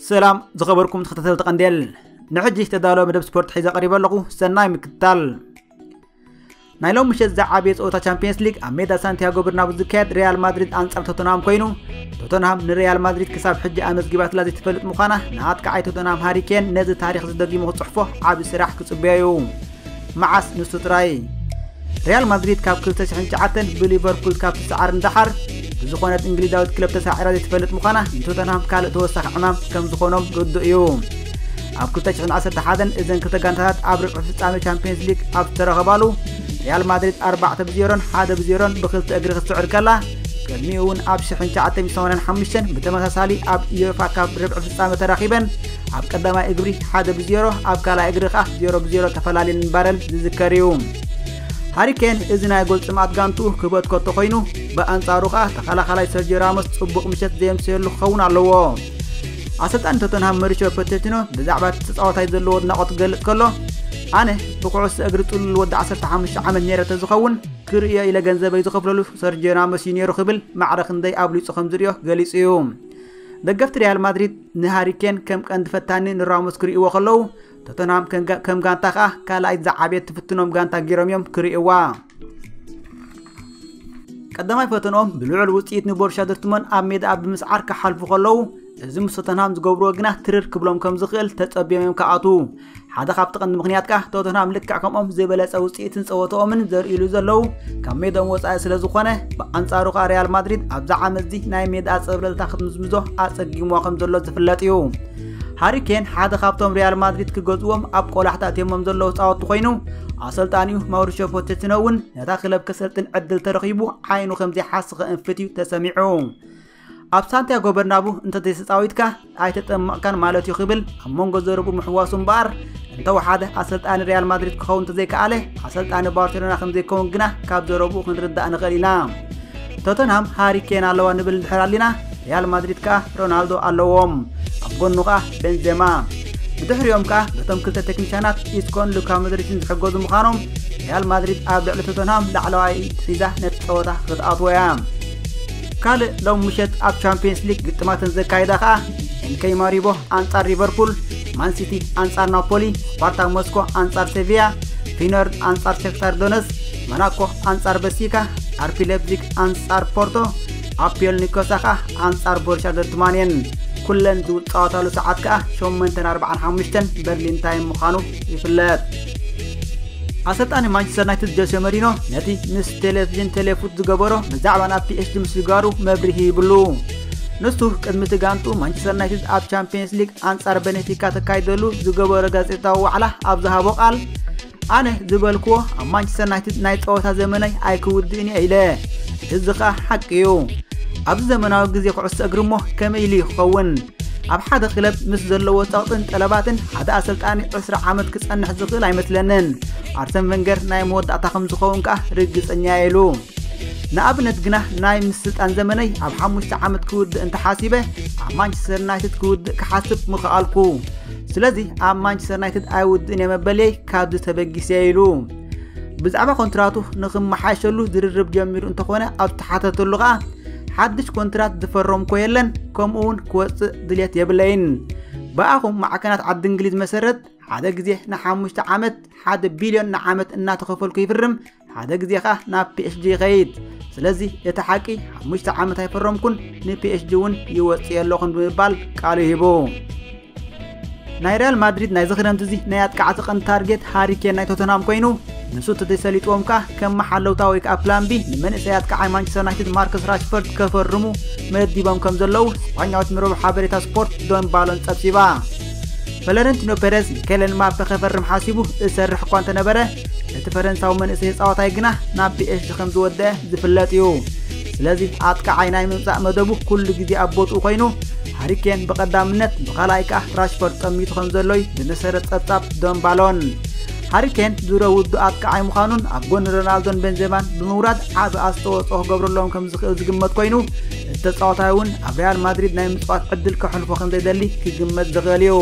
ሰላም ዝኸበርኩም ተኸታተልቲ ቀንዴል ንሕጂ ዝተዳለወ መደብ ስፖርት ሒዘ ቀሪበ ኣለኹ ሰናይ ምክትታል ናይ ሎም ምሸት ዝዓበየ ፀወታ ቻምፒየንስ ሊግ ኣብ ሜዳ ሳንቲያጎ ብርናቡ ዝካየድ ሪያል ማድሪድ ኣንፃር ቶተናም ኮይኑ ቶተንሃም ንሪያል ማድሪድ ክሳብ ሕጂ ኣመዝጊባትላ ዘይትፈልጥ ምዃና ንኣጥቃዓይ ቶተንሃም ሃሪኬን ነዚ ታሪኽ ዝደጊሙ ክጽሕፎ ዓቢ ስራሕ ክጽበዮ እዩ መዓስ ንሱ ጥራይ ሪያል ማድሪድ ካብ 2009 ብሊቨርፑል ካብ ትሰዓር ንደሓር ብዝኾነት እንግሊዛዊት ክለብ ተሳዒራ ዘይትፈልጥ ምዃና ንቶተንሃም ካልእ ተወሳኺ ዕማም ከም ዝኾኖም ርዱእ እዩ ኣብ 2011 እዘን ክልተ ጋንታታት ኣብ ርብዒ ፍጻሜ ቻምፒየንስ ሊግ ኣብ ዝተረኸባሉ ሪያል ማድሪድ 4 ብዜሮን 1 ብዜሮን ብክልተ እግሪ ክትስዕር ከላ ቅድሚኡ እውን ኣብ ሽሕን ትሽዓተ ሚእቲ ሰማንያን ሓሙሽተን ብተመሳሳሊ ኣብ ኢዮፋ ካብ ርብዒ ፍጻመ ተራኺበን ኣብ ቀዳማይ እግሪ ሓደ ብዜሮ ኣብ ካልኣይ እግሪ ከዓ ዜሮ ብዜሮ ተፈላለየን ምንባረን ዝዝከር እዩ ሃሪኬን እዚ ናይ ጎል ጥምኣት ጋንትኡ ክህበት ከቶ ኮይኑ ብኣንጻሩ ከዓ ተኸላኻላይ ሰርጆ ራሞስ ጽቡቕ ምሸት ዘየምሰየሉ ክኸውን ኣለዎ ኣሰልጣኒ ቶተንሃም መሪሾ ፖቴቲኖ ብዛዕባ እቲ ተጻዋታይ ዘለዎ ኣድናቖት ክገልጽ ከሎ ኣነ ብኩዕሶ እግሪ ጥሉል ወዲ 15 ዓመት ነይረ ተዝኸውን ክርእዮ ኢለ ገንዘበይ ዝኸፍለሉ ሰርጆ ራሞስ'ዩ ነይሩ ክብል ማዕረ ክንደይ ኣብሊጹ ከም ዝርእዮ ገሊጹ'ዩ። ደገፍቲ ሪያል ማድሪድ ንሃሪ ኬን ከም ቀንዲ ፈታኒ ንራሞስ ክርእይዎ ከለዉ፣ ቶተንሃም ከም ጋንታ ከኣ ካልኣይት ዝዓበየት ትፍትኖም ጋንታ ገይሮም'ዮም ክርእይዋ። ቀዳማይ ፈተንኦም ብልዑል ውጽኢት ንቦሩስያ ዶርትሞን ኣብ ሜዳኣ ብምስዓር ክሓልፉ ከለዉ እዚ ምስ ቶተንሃም ዝገብርዎ ግና ትርር ክብሎም ከም ዝኽእል ተጸብዮም እዮም ክኣትዉ። ሓደ ካብቲ ቀንዲ ምክንያት ከኣ ቶተንሃም ልክዕ ከምኦም ዝበለጸ ውጽኢትን ጸወትኦምን ዘርእሉ ዘለዉ ካብ ሜዶም ወጻኢ ስለ ዝኾነ ብኣንጻሩ ከኣ ሪያል ማድሪድ ኣብዚ ዓመት እዚ ናይ ሜዳ ኣጸብለልታ ክትምዝምዞ ኣጸጊሞ ከም ዘሎ ዝፍለጥ እዩ ሃሪ ኬን ሓደ ካብቶም ሪያል ማድሪድ ክገዝዎም ኣብ ቆላሕታ እትዮሞም ዘለዉ ጻወቲ ኮይኑ ኣሰልጣኒኡ ማውሪሾ ፖቸቲኖ እውን ነታ ክለብ ከሰልጥን ዕድል ተረኺቡ ዓይኑ ከም ዘይሓስኸ እንፍት እዩ ተሰሚዑ ኣብ ሳንቲያጎ በርናቡ እንተዘይተፃዊትካ ኣይተጠመቕካን ማለት እዩ ክብል ኣብ መንጎ ዘረብኡ ምሕዋሱ እምበኣር እንተወሓደ ኣሰልጣኒ ሪያል ማድሪድ ክኸውን እንተዘይከኣለ ኣሰልጣኒ ባርሴሎና ከምዘይከውን ግና ካብ ዘረብኡ ክንርዳእ ንኽእል ኢና ቶተንሃም ሃሪ ኬን ኣለዋ ንብል እንድሕር ኣሊና ሪያል ማድሪድ ከኣ ሮናልዶ ኣለዎም ኣብ ጎኑ ከኣ ቤንዜማ ብድሕሪኦም ከኣ በቶም ክልተ ቴክኒሻናት ኢስኮን ሉካ መድሪትን ዝሕገዙ ምዃኖም ሪያል ማድሪድ ኣብ ልዕሊ ቶተንሃም ላዕለዋይ ሒዛ ነቲ ጸወታ ክትኣትዎ እያ ካልእ ሎም ምሸት ኣብ ቻምፕየንስ ሊግ ግጥማተን ዘካይዳ ከኣ ኤንከይ ማሪቦ ኣንጻር ሊቨርፑል፣ ማንሲቲ ኣንጻር ናፖሊ፣ ስፓርታ ሞስኮ ኣንጻር ሴቪያ፣ ፊነር ኣንጻር ሸክታር ዶነስ፣ መናኮ ኣንጻር በሲካ፣ ኣርፒ ሌፕዚግ ኣንጻር ፖርቶ፣ ኣፒዮል ኒኮሳ ከኣ ኣንጻር ቦርሻ ዶርትማን እየን። ኩለን ዝውጻወታሉ ሰዓት ከኣ 8:45 በርሊን ታይም ምዃኑ ይፍለጥ። ኣሰልጣኒ ማንቸስተር ዩናይትድ ጆሴ መሪኖ ነቲ ምስ ቴሌቪዥን ቴሌፉት ዝገበሮ ብዛዕባ ናብ ፒኤስጂ ምስግጋሩ መብርሂ ይብሉ ንሱ ቅድሚ እቲ ጋንቱ ማንቸስተር ዩናይትድ ኣብ ቻምፒየንስ ሊግ ኣንጻር ቤኔፊካ ተካይደሉ ዝገበሮ ጋዜጣዊ ዋዕላ ኣብ ዝሃቦ ቃል ኣነ ዝበልክዎ ኣብ ማንቸስተር ዩናይትድ ናይ ጸወታ ዘመናይ ኣይክውድእን እየ ኢለ እዚ ኸኣ ሓቂ እዩ ኣብዚ ዘመናዊ ግዜ ኩዕሶ እግሪ እሞ ከመይ ኢሉ ይኸውን ኣብ ሓደ ክለብ ምስ ዘለዎ ጸቕጥን ጠለባትን ሓደ ኣሰልጣኒ ዕስራ ዓመት ክጸንሕ ዝኽእል ኣይመስለንን ኣርሰን ቨንገር ናይ መወዳእታ ከም ዝኸውን ከኣ ርግጸኛ ኢሉ ንኣብነት ግና ናይ ምስ ስልጣን ዘመነይ ኣብ ሓሙሽተ ዓመት ክውድእ እንተሓሲበ ኣብ ማንቸስተር ዩናይትድ ክውድእ ክሓስብ ምኽኣልኩ ስለዚ ኣብ ማንቸስተር ዩናይትድ ኣይውድእን እየ መበልየይ ካብዚ ተበጊሰ ኢሉ ብዛዕባ ኮንትራቱ ንክመሓየሸሉ ዝርርብ ጀሚሩ እንተኾነ ኣብ ተሓተተሉ ከዓ ሓድሽ ኮንትራት ዝፈረምኮ የለን ከምኡ እውን ክወፅእ ድሌት የብለይን ብኣኹም ማዕከናት ዓዲ እንግሊዝ መሰረት ሓደ ግዜ ንሓሙሽተ ዓመት ሓደ ቢልዮን ንዓመት እናተኸፈልኩ ይፍርም ሓደ ግዜ ከዓ ናብ ፒኤችጂ ይኸይድ ስለዚ እቲ ሓቂ ሓሙሽተ ዓመት ኣይፈረምኩን ንፒኤችጂ እውን ይወፅእ ኣለኹን ብምባል ቃሉ ሂቡ ናይ ሪያል ማድሪድ ናይዚ ክረምቲ እዚ ናይ ኣጥቃዕቲ ቀንዲ ታርጌት ሃሪ ኬን ናይ ቶተንሃም ኮይኑ ንሱ ተዘይሰሊጥዎም ከኣ ከም መሓለውታ ወይ ከኣ ፕላን ቢ ንመንእሰይ ኣጥቃዓይ ማንቸስተር ዩናይትድ ማርከስ ራሽፈርድ ከፈርሙ መዲቦም ከም ዘለዉ ስጳኛዊት ምረብ ሓበሬታ ስፖርት ዶን ባሎን ጸብጺባ ፈለረንቲኖ ፔረዝ ንኬለን ማፐ ከፈርም ሓሲቡ እሰርሕ እኳ እንተነበረ እቲ ፈረንሳዊ መንእሰይ ተጻዋታይ ግና ናብ ፒኤስጂ ከም ዝወደአ ዝፍለጥ እዩ ስለዚ ኣጥቃዓይ ናይ ምምጻእ መደቡ ኩሉ ግዜ ኣብ ቦትኡ ኮይኑ ሃሪኬን ብቐዳምነት ብኻልኣይ ከኣ ራሽፈርድ ጠሚቱ ከም ዘሎዩ ብመሰረት ጸብጻብ ዶንባሎን ሃሪኬን ድሮ ውዱ ኣጥቃዓይ ምዃኑን ኣብ ጎኒ ሮናልዶን ቤንዜማን ብምውራድ ዓቢ ኣስተዋጽኦ ክገብረሎም ከም ዝኽእል ዝግመት ኮይኑ እቲ ተጻዋታይ እውን ኣብ ሪያል ማድሪድ ናይ ምጽዋት ዕድል ከሕልፎ ከም ዘይደሊ ክግመት ዝኽእል እዩ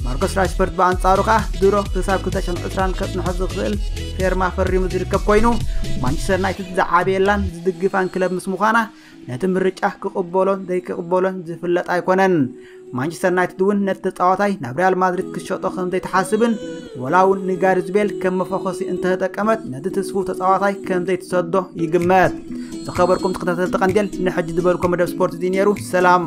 ማርኮስ ራሽፈርድ ብኣንጻሩ ከኣ ድሮ ክሳብ 220 ከጽንሖ ዝኽእል ፌርማ ፈሪሙ ዝርከብ ኮይኑ ማንቸስተር ዩናይትድ ዝዓበየላን ዝድግፋን ክለብ ምስ ምዃና ነቲ ምርጫ ክቕበሎን ዘይክቕበሎን ዝፍለጥ ኣይኮነን ማንቸስተር ዩናይትድ እውን ነቲ ተፃዋታይ ናብ ሪያል ማድሪድ ክሸጦ ከም ዘይትሓስብን ወላ እውን ንጋሪዝ ቤል ከም መፈኾሲ እንተተጠቀመት ነቲ ትስፉ ተፃዋታይ ከም ዘይትሰዶ ይግመት ዝኸበርኩም ተኸታተልቲ ቀንዴል ንሕጂ ዝበልኮ መደብ ስፖርት እዚ ነይሩ ሰላም